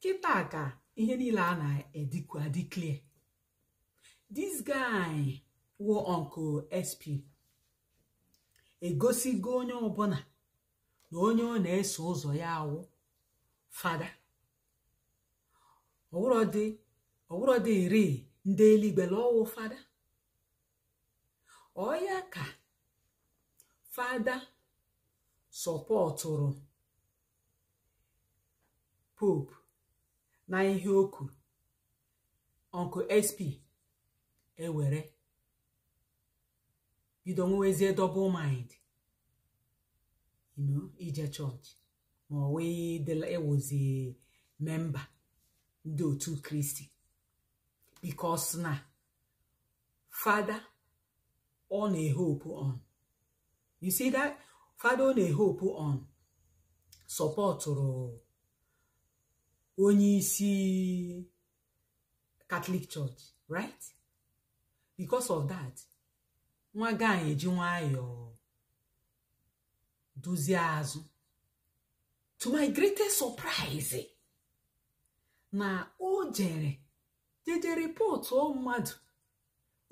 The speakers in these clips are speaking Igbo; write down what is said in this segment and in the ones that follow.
kịta ka ihe niile a na-adịkwu adị clear this guy wụ uncle sp egosigo onye ọbụla na onye ọ na-eso ụzọ ya wụ fada ọ wụrọdịrị ndị eluigwe na ọ wụ fada ọ ya ka fada sọpọtụrụ pope na ihe o kwuru uncle sp ewere bido nwewezie double mind you know ije chọọchị ma ọ wụdị ịwụzi member ndị otu kristi because na fada ọ na-ehopu on you see that fada ọ na-ehopu on sọpọtụrụ onye isi Catholic Church right because of that nwa guy eji nwayọọ duzie azụ to my greatest surprise na o jere jeje ripọtụọ mmadụ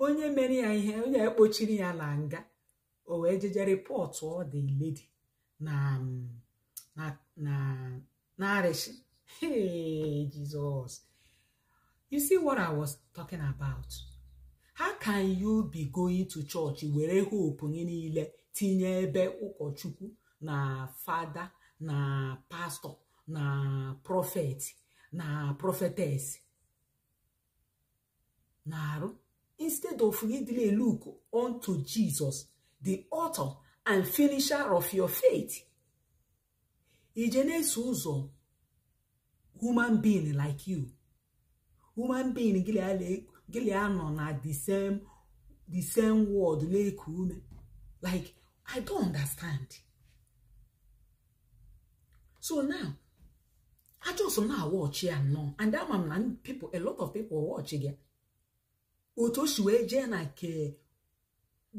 onye mere ya ihe onye ekpochiri ya na nga o wee jeje rịpọtụọ the lady na arịsị hey Jesus you see what i was talking about how can you be going to church were hope gị niile tinye ebe ụkọchukwu na fada na pastọ na prọfet na prọfetes na-arụ instead of gị dịla look unto Jesus the author and finisher of your faith i je na-eso ụzọ human being like you human being gị na ya nọ na the same the same world na-eku ume like i don't understand so now I just na-awatch ya now and ama m na people a lot of people watchigo otu o si wee jee na nke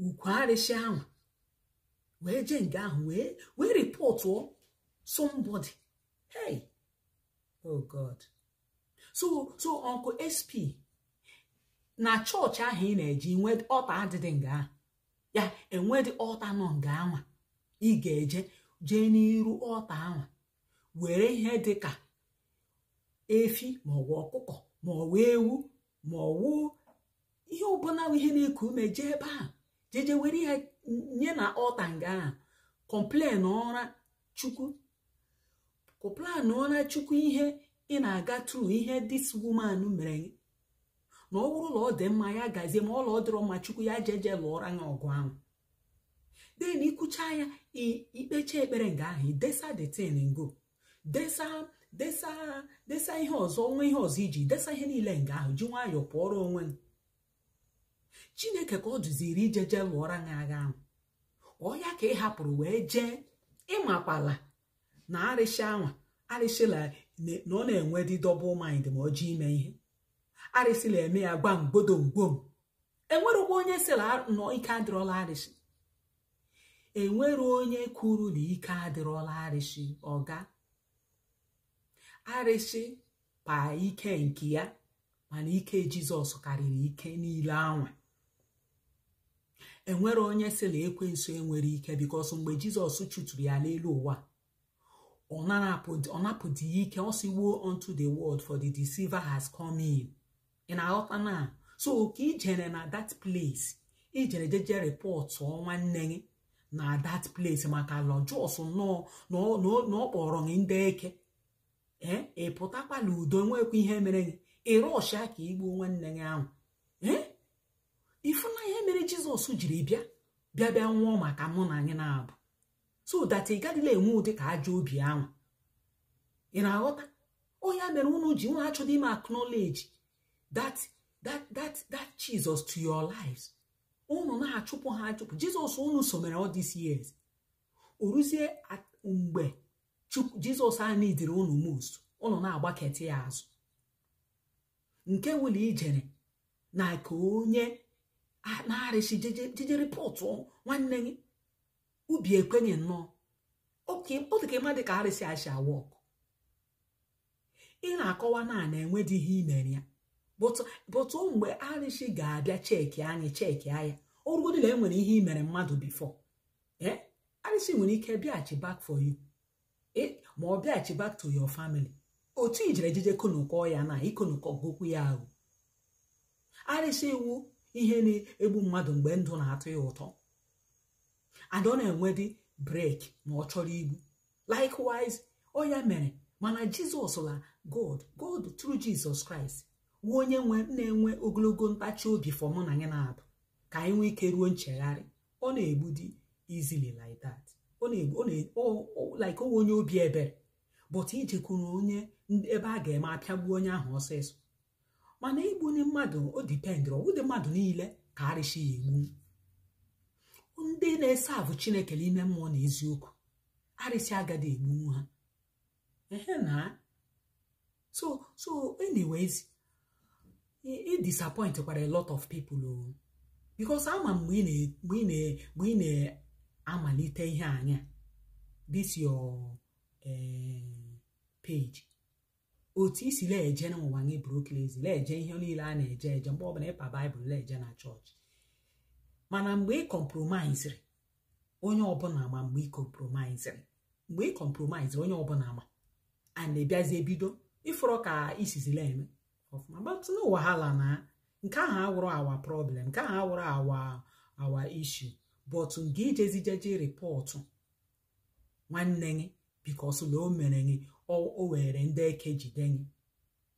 ukwu arịsị ahụ wee jee nga ahụ wee wee ripọtụọ somebody hey oh god so so uncle sp na chọọchị ahụ ị na-eje nwee altar adịdị nga ahụ ya enwedị altar nọ nga anwa ị ga-eje jee n'iru altar anwa were ihe dị ka efi maọbụ ọkụkọ maọbụ ewu maọbụ ihe ọbụla ihe na-eku ume jee ebe ahụ jeje were ihe nye na altar nga ahụ complain ọra chukwu complain ọra chukwu ihe ị na-aga through ihe this woman mere gị na ọ bụrụ na ọ dị mma ya gazie ma ọla ọ dịrọ mma chukwu ya jeje lụọra ya ọgụ ahụ then i kwuchaa ya i kpechaa ekpere nga ahụ idesa the thing ngo desa desa desa ihe ọzọ onwe ihe ọzọ iji desa ihe niile nga ahụ ji nwayọọ pụọrọ onwe chineke ka ọ dụziri ijeje lụọra gị agha ahụ ọ ya ka ị hapụrụ wee jee ịmakwala na arịsị anwa arịsị la na ọ na-enwe dị double mind ma ọ chọọ ime ihe arịsị la-eme ya gbam gbodom gbom enwerekwa onye sị la nọ ike adịrọ la arịsị enwere onye kwuru na ike adịrọ la arịsị ọga arịsị pa ike nke ya mana ike jizọs karịrị ike niile anwa enwere onye sị la ekwensu enwere ike because mgbe jizọs chụturu ya n'elu ụwa ọ napụdị ya ike ọ sị woe unto the world for the deceiver has come in ị na-aghọta na so ka ijere na that place ijere jeje reportụ nwanne gị na that place maka la just nnọọ na ọ kpọrọ gị ndị eke ee ị pụtakwala udo nwekwa ihe mere gị ị rushịa ka igbuo nwanne gị ahụ ee ị fụna ihe mere jizọs jiri bịa bịa bịa nwụọ maka mụ na gị naabọ so that ị gadịla enwe ụdị ka ajọ obi ahụ ị na-aghọta ọ ya mere unu ji unu achọdị ime acknowledge that that that that Jesus to your lives unu na-achụpụ ha achụpụ Jizọs unu so mere all these years o ruzie mgbe Jizọs a needịrị unu most unu na-agbaketị ya azụ nke wụ la ijere na ka onye na-arịsị jeje reportụ nwanne gị obi ekwenye nnọọ oke ọ dị ka ị madị ka arịsị a shi a-work ị na-akọwa na a na-enwe dị ihe imere ya but mgbe arịsị ga-abịa check anyị check ya ọrụgodị na enwere ihe imere mmadụ before ee arịsị nwere ike bịaghachi back for you ma ọ bịaghachi back to your family otu ijere jeje konukọ ya na ikonukọ gokwu ya ahụ arịsị wụ ihe na-egbu mmadụ mgbe ndụ na-atọ ya ụtọ and ọ na-enwe dị break ma ọ chọrọ igbu likewise ọ ya mere mana jizọs la god god through jizọs kraịst wụ onye nwe na-enwe ogologo ntachi obi for mụ na gị naabọ ka anyị nwee ike ruo nchegharị ọ na-egbudi easily like that ọ na-egbu ọ na- ọ- ọ- like ọwa onye obi ebere but i jekwuru onye ndị- ebe a ga-eme apịagbu onye ahụ ọsịsọ mana igbu ndị mmadụ o dipendịrị ọ wụdị mmadụ niile ka arịsị ya egbu ndị na-esavụ chineke n'ime mmụọ na eziokwu arịsị agadị egbu ha ehe na so so anyways ị disappoint kwara a lot of people o oh. because a ma mgbe ị na-amalite ihe anya this your eh, page otu i si na-eje n'ụwa gị brokles na-eje ihe niile a na-eje eje mgbe ọbụla ị pa baịbụl na-eje na chọọchị mana mgbe ị kọmpromaiziri onye ọbụla ama mgbe ị kọmpromaiziri mgbe ị kọmpromaiziri onye ọbụla ama and ị bịazie bido ịfọrọ ka i sizi la-eme ọfụma but no wahala na nke ahụ awụrọ our problem nke ahụ awụrọ our our issue but nke i jezi jeje rịpọtụ nwanne gị because na o mere gị o were ndị eke jide gị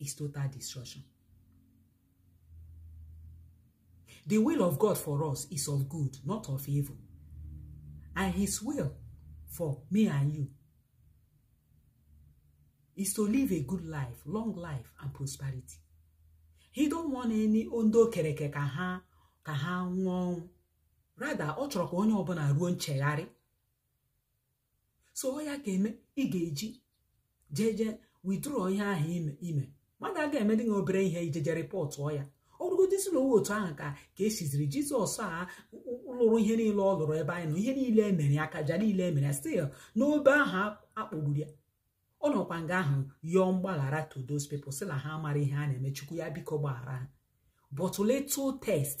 is total destruction. The will of God for us is of good, not of evil. And his will for me and you is to live a good life, long life and prosperity. He don't want any ndị o kere eke ka ha ka ha nwụọ. Rather, ọ chọrọ ka onye ọbụla ruo nchegharị so ọ ya ga-eme ị ga-eji jee jee withdraw ihe ahụ ime ime mmadụ aga emedị gị obere ihe i jeje rịpọtụọ ya ọ bụrụgodị sị na ọ wụ otu ahụ ka ka esiziri jizọs a lụrụ ihe niile ọ lụrụ ebe anyị nọ ihe niile e mere ya akaja niile e mere ya still n'obe ahụ a kpọgburu ya ọ nọkwa nga ahụ yọọ mgbaghara to those people sị na ha amara ihe ha na-eme chukwu ya biko gbaghara ha but little test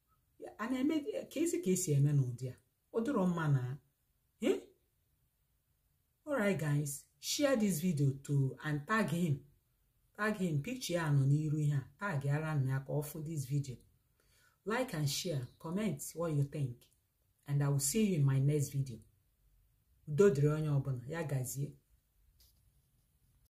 a na-eme ka e si ka e si eme n'ụdị a ọ dịrọ mma na eh? alright guys share this video to and tag him tag him picture ya nọ n'iru ihe a tagara nụ ya ka ọ fụ this video like and share comment what you think and i will see you in my next video udo dịrị onye ọbụla ya gazie